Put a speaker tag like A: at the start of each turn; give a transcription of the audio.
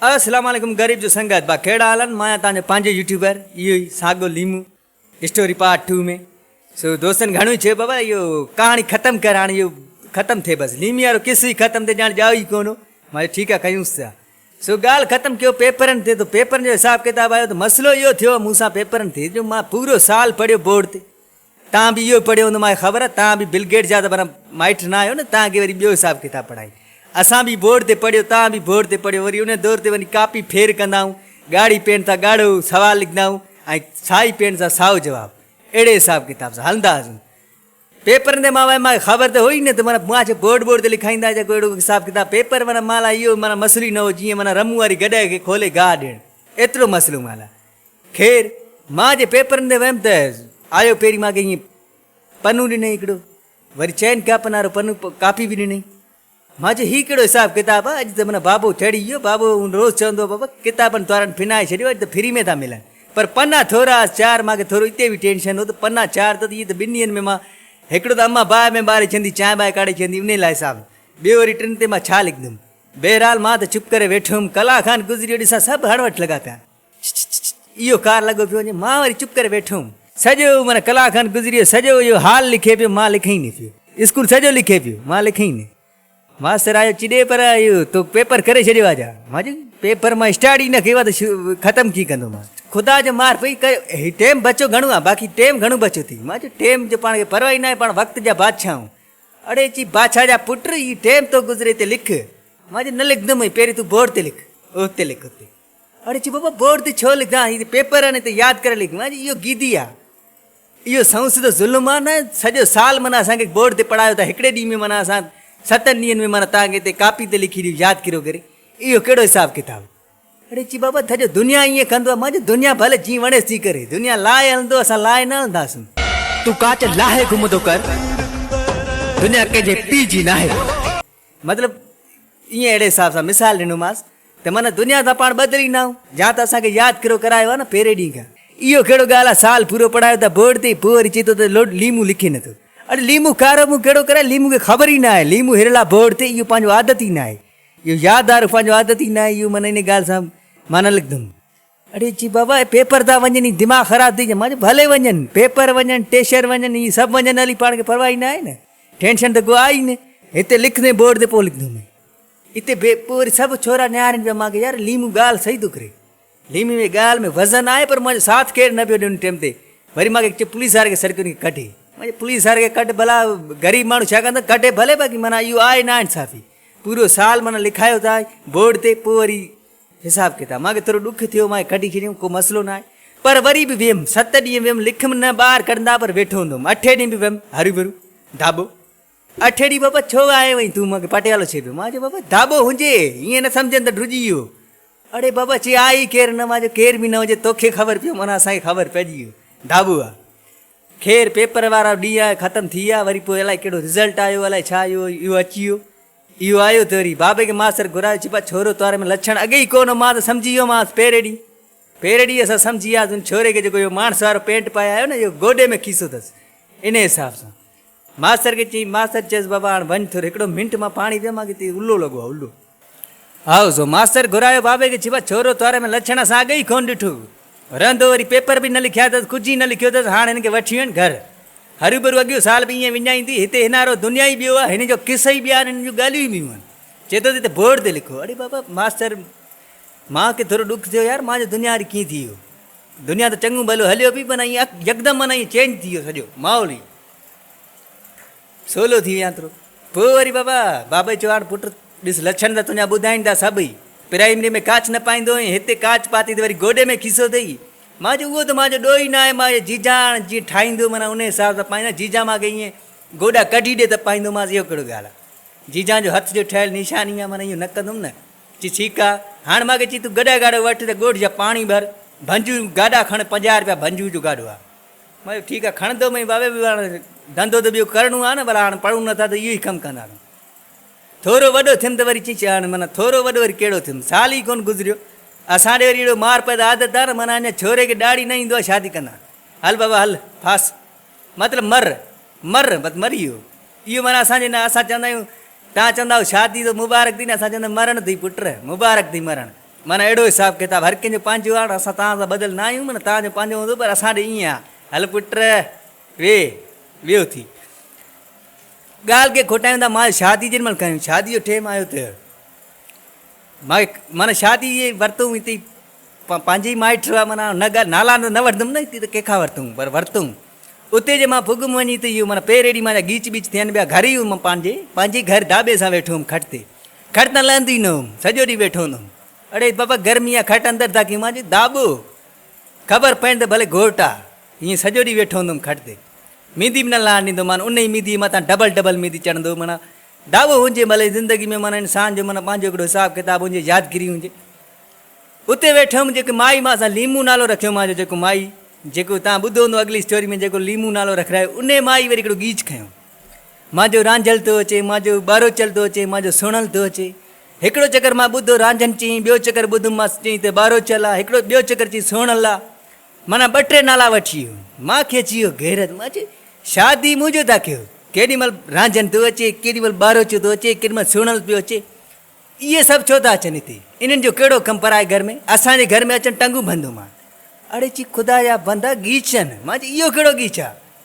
A: السلام عليڪم غريب جو سنگت با ڪهڙا حال آهن مان آهيان توهان جو پنهنجو يوٽيوبر اهو ئي ساڳو ليمو اسٽوري پارٽ ٽو ۾ سو دوستن گهڻو ئي چيو بابا اهو ڪهاڻي ختم ڪر هاڻي اهو ختم ٿئي بس ليمي وارو قصو ئي ختم ٿئي ڄاڻ ڄائو ئي ڪونه مان چيو ٺيڪ آهي ڪيونس ٿا سو ڳالهه ختم ڪيو پيپرن تي ته پيپرن جو حساب ڪتاب آيو ته مسئلو اهو ٿيو مون سان پيپرن تي جو مان پورو سال پڙهيو بورڊ تي توهان به اهو ئي پڙهيو هوندو مان کي خبر آهي توهان به بل گيٽس جا ته برا مائٽ نه آهيو نه توهان کي وري ٻيو حساب ڪتاب پڙهائين اسان به بورڊ تي پڙهيو توهان به بورڊ تي پڙهيو وري ان دور تي وڃي ڪاپي ڦير ڪندا آهيون ڳاڙهي پين سان ڳاڙهو سوال لکندا آهيون ۽ سائي پين سان سائو جواب اهڙي حساب ڪتاب سان هلندا هئاسون پيپرن تي مان مان خبر ته هو ئي نه ته مانا مان ڇا بورڊ بورڊ تي لکائيندا ڇا ڪو اهڙو حساب ڪتاب پيپر مانا مان لاء اهو مانا مسئلو ئي نه هو جيئن مانا رمون واري گڏهه کي کولي گاهه ڏيڻ ايترو مسئلو مان لاء خير، مان جي پيپرن تي ويم ته آيو پهرين مان کي ائين پنو ڏنائين هڪڙو، وري چئن ڪاپن وارو پنو ڪاپي به ڏنائين. مان چيو هي ڪهڙو حساب ڪتاب آ، اڄ ته من بابو ٿڙي ويو، بابو هون روز چوندو هو بابا ڪتابن توارن ڦنائي ڇڏيو اڄ ته فري ۾ ٿا ملن، پر پنا ٿورا هئس چار، مان کي ٿورو اتي به ٽينشن هو ته پنا چار ته اهي ته ٻن ڏينهن ۾ مان هڪڙو ته امان باهه ۾ ٻاري ڇندي چانهه ٻانهه ڪاڙهي ڇندي انهي لاء حساب ته ٻيو وري ٽن تي مان ڇا لکندم، بهرحال مان ته چپ ڪري ويٺو هيم، ڪلاڪ کان گذري ويو ڏسان سڀ هڻ وٺ لڳا پيا آهن. اهو ڪار لڳو پيو وڃي، مان وري چپ ڪري ويٺو هوم. سڄو معنيٰ ڪلاڪ کن گذري ويو، سڄو اهو حال لکي پيو، مان لکئين نه پيو. اسڪول سڄو لکي پيو، مان لکئين نه. ماستر آيو چڏي پر اهو تو پيپر ڪري ڇڏيو آ جا. مان چيو پيپر مان اسٽارٽ ئي نه ڪيو آ ته ختم ڪيئن ڪندومان. خدا جو مار پئي ڪيو، هي ٽيم بچو گهڻو آ، باقي ٽيم گهڻو بچو ٿي. مان چيو ٽيم جو پاڻ کي پرواهه ئي ناهي، پاڻ وقت جا بادشاهه آهيون. اڙي چي بادشاهه جا پٽ، هي ٽيم تو گذري تي لک. مان چيو نه لکندومئي، پهرين تون بورڊ تي لک، اهو اتي لک اتي. اڙي چي بابا بورڊ تي ڇو لکدان هي ته پيپر آهن ته ياد ڪري لکون آهي اهو گيدي آهي اهو سائون سڌو ظلم آهي نه سڄو سال معنی اسان کي بورڊ تي پڙهايو ته هڪڙي ڏينهن ۾ معنی اسان ستن ڏينهن ۾ معنی تان کي تي ڪاپي تي لکي ڏيو ياد ڪريو ڪري اهو ڪهڙو حساب ڪتاب اڙي چي بابا ٿجو دنيا ائين ڪندو آهي مانجي دنيا ڀلي جي وڻيس تي ڪري دنيا لاء هلندو اسان لاء نه هلنداسون تون ڪاچ لاهي گهمندو ڪر دنيا ڪنهن جي پي جي ناهي. مطلب ائين اهڙي حساب سان مثال ڏنومانس ته معنيٰ دنيا سان پاڻ ٻڌل ئي ناهون، جا ته اسان کي ياد ڪرو ڪرايو آهي نه پهرين ڏينهن کان. اهو ڪهڙو ڳالهه آهي سال پورو پڙهايو ٿا بورڊ تي پوء وري چئي ٿو ته لوڊ ليمون لکي نه ٿو. اڙي ليمون کارو مون ڪهڙو ڪرايو ليمون کي خبر ئي ناهي ليمون هرلا بورڊ تي اهو پنهنجو عادت ئي ناهي اهو ياد آرو پنهنجو عادت ئي ناهي اهو معنيٰ ان ڳالهه سان معنيٰ لکندم. اڙي چي بابا اهي پيپر ٿا وڃن هي دماغ خراب ٿي جا مان چيو ڀلي وڃن پيپر وڃن ٽيشر وڃن هي سڀ وڃن علي پاڻ کي پرواهه ئي ناهي نه ٽينشن ته ڪو آهي ئي نه هتي لکندين بورڊ تي پوء لکندو مين اتي بي پوء وري سڀ ڇورا نهارين پيا مان کي يار ليمو ڳالهه صحيح ٿو ڪري ليمي ۾ ڳالهه ۾ وزن آهي پر منهنجو ساٿ ڪير نه پيو ڏي ان ٽيم تي وري مان کي پوليس واري کي سرڪيو کي ڪڍي مان چيو پوليس واري کي ڪڍ ڀلا غريب ماڻهو ڇا ڪندا ڪڍي ڀلي باقي مانا اهو آهي نا انصافي پورو سال مانا لکايو ٿا بورڊ تي پوء وري حساب ڪتاب مان کي ٿورو ڏک ٿيو، مان کي ڪڍي ڇڏيائون، ڪو مسئلو ناهي. پر وري به ويم، ست ڏينهن ويم، لکم نه ٻاهر ڪڍندا پر ويٺو هوندو هوم. اٺين ڏينهن به ويم، هروڀرو ڌاٻو. اٺين ڏينهن بابا ڇو آيو آهين تون؟ مان کي پٽيالو ڇي پيو. مان چيو بابا ڌاٻو هجي، ائين نه سمجهن ته ڊڄي ويو. اڙي بابا چي آء ئي ڪير نه. مان چيو ڪير به نه هجي، توکي خبر پيو معنيٰ اسان کي خبر پئجي ويو ڌاٻو آ. خير پيپر وارا ڏينهن آيا ختم ٿي ويا وري پوء الائي ڪهڙو رزلٽ آيو الائي ڇا اهو اهو اچي ويو اهو آيو ته وري بابي کي ماستر گهرايو چيو بابا ڇورو توهان ۾ لڇڻ اڳي ئي ڪونه مان ته سمجهي ويو مانس پهرين ڏينهن پهرين ڏينهن اسان سمجهي وياسين ان ڇوري کي جيڪو اهو ماڻس وارو پينٽ پائي آيو نه اهو گوڏي ۾ کيسو اٿس انهي حساب سان ماستر کي چيائين، ماستر چيس بابا هاڻ وڃ ٿر هڪڙو منٽ مان پاڻي پيء مان ڪٿي الو لڳو آهي الو. هائو سو ماستر گهرايو بابي کي ڇپا ڇورو توهاري ۾ لڇڻ سان اڳ ئي ڪونه ڏٺو رهندو وري پيپر به نه لکيا اٿس ڪجهه ئي نه لکيو اٿس هاڻ هن کي وٺي وڃ گهر هروبرو اڳيو سال به ائين وڃائيندي هتي هنارو دنيا ئي ٻيو آهي هن جو قصه ئي ٻيا آهن هن جون ڳالهيون ئي ٻيون آهن چئي ٿو ته هتي بورڊ تي لکو اڙي بابا ماستر مان کي ٿورو ڏک ٿيو يار مان جو دنيا واري ڪيئن ٿي ويو. دنيا ته چڱو ڀلو هليو پئي پر ائين يڪدم معنيٰ ائين چينج ٿي ويو سڄو ماحول ئي سولو ٿي ويان ٿرو پوء وري بابا بابا چيو هاڻ پٽ ڏس لڇڻ ته تنهنجا ٻڌائين ٿا سڀ ئي پرائمري ۾ ڪاچ نه پائيندو هئين هتي ڪاچ پاتي ته وري گوڏي ۾ کيسو اٿئي مان چيو اهو ته مان جو ڏوهي ناهي مان جو جيجا هاڻ جيئن ٺاهيندو معنيٰ ان حساب سان پائيندو جيجا مانکي ائين گوڏا ڪڍي ڏي ته پائيندومانس اهو ڪهڙو ڳالهه آهي جيجان جو هٿ جو ٺهيل نيشاني آهي، معنيٰ اهو نه ڪندم نه. چي ٺيڪ آ. هاڻ مان کي چي تون گڏهه گاڏو وٺ ته ڳوٺ جا پاڻي ڀر، ڀنجو جون گاڏا کڻ، پنجاهه رپيا ڀنجو جو گاڏو آهي. مان چيو ٺيڪ آ کڻندو مئي بابي به هاڻ ڌنڌو ته ٻيو ڪرڻو آهي نه، ڀلا هاڻ پڙهون نه ٿا ته اهو ئي ڪم ڪنداسون. ٿورو وڏو ٿيم ته وري چيس هاڻ معنيٰ ٿورو وڏو وري ڪهڙو ٿيم، سال ئي ڪونه گذريو. اسان ڏي وري اهڙو مار پيدا عادت آهي نه، معنيٰ اڃا ڇوري کي ڏهاڙي نه ايندو آهي شادي ڪنداسين. هل بابا هل، ڦاس. مطلب مر، مر، مت مر اهو، اهو معنيٰ اسان جي نه اسان چوندا آهيون، توهان چوندا آهيو شادي ته مبارڪ ٿي نه اسان چوندا آهيون مرڻ ٿي پٽ، مبارڪ ٿي مرڻ، معنيٰ اهڙو حساب ڪتاب، هر ڪنهن جو پنهنجو آهي، اسان توهان سان ٻڌل نه آهيون، معنيٰ توهان جو پنهنجو هوندو پر اسان ڏي ائين آهي، هل پٽ ويهه، ويهه اٿي. ڳالهه ڪي کوٽائيون ٿا، مان چيو شادي جنهن مهل ڪيون، شادي جو ٽيم آيو ته. مائٽ معنيٰ شادي جي ورتون هتي پنهنجي مائٽ هئا معنيٰ نه ڳالهه نالا نه نه وٺندم نه هتي ته ڪنهن کان ورتون پر ورتون اتي جي مان پڳم وڃي ته اهو معنيٰ پير ايڏي معنيٰ ڳيچ ٻيچ ٿين ٻيا گهر ئي هيم پنهنجي پنهنجي گهر داٻي سان ويٺو هيم کٽ تي کٽ تان لهندو ئي نه هيم سڄو ڏينهن ويٺو هوندو هيم اڙي بابا گرمي آ کٽ اندر ٿا ڪيون مان چيو داٻو خبر پئي ته ڀلي گهوٽ آ ائين سڄو ڏينهن ويٺو هوندو هيم کٽ تي ميندي به نه لهڻ ڏيندو مان ان ئي ميندي مٿان ڊبل ڊبل ميندي چڙهندو معنيٰ دعوو هجي ڀلي زندگي ۾ معنيٰ انسان جو معنيٰ پنهنجو هڪڙو حساب ڪتاب هجي يادگيري هجي اتي ويٺو هيم جيڪي مائي مان اسان ليمون نالو رکيو مان جو جيڪو مائي جيڪو تان ٻڌو هوندو اڳلي اسٽوري ۾ جيڪو ليمون نالو رکرايو ان مائي وري هڪڙو گيچ کنيو مان جو رانجهل ٿو اچي مان جو ٻاروچل ٿو اچي مان جو سڻل ٿو اچي هڪڙو چڪر مان ٻڌو رانجهن چين ٻيو چڪر ٻڌم مان چين ته ٻاروچل آ هڪڙو ٻيو چڪر چين سڻل آ معنيٰ ٻه ٽي نالا وٺي مان کي چيو غيرت مان چيو شادي مون جو ٿا ڪيو ڪيڏي مھل رانجھن ٿو اچي ڪيڏي مھل ٻاروچو ٿو اچي ڪيڏي مھل سھڻل پيو اچي اھي سڀ ڇو ٿا اچن ھتي انھن جو ڪھڙو ڪم پرائي گھر ۾ اسان جي گھر ۾ اچن ٽنگون بندو مان اڙي چي خدا جا بندا ڳيچن مان چيو اھو ڪھڙو ڳيچ آ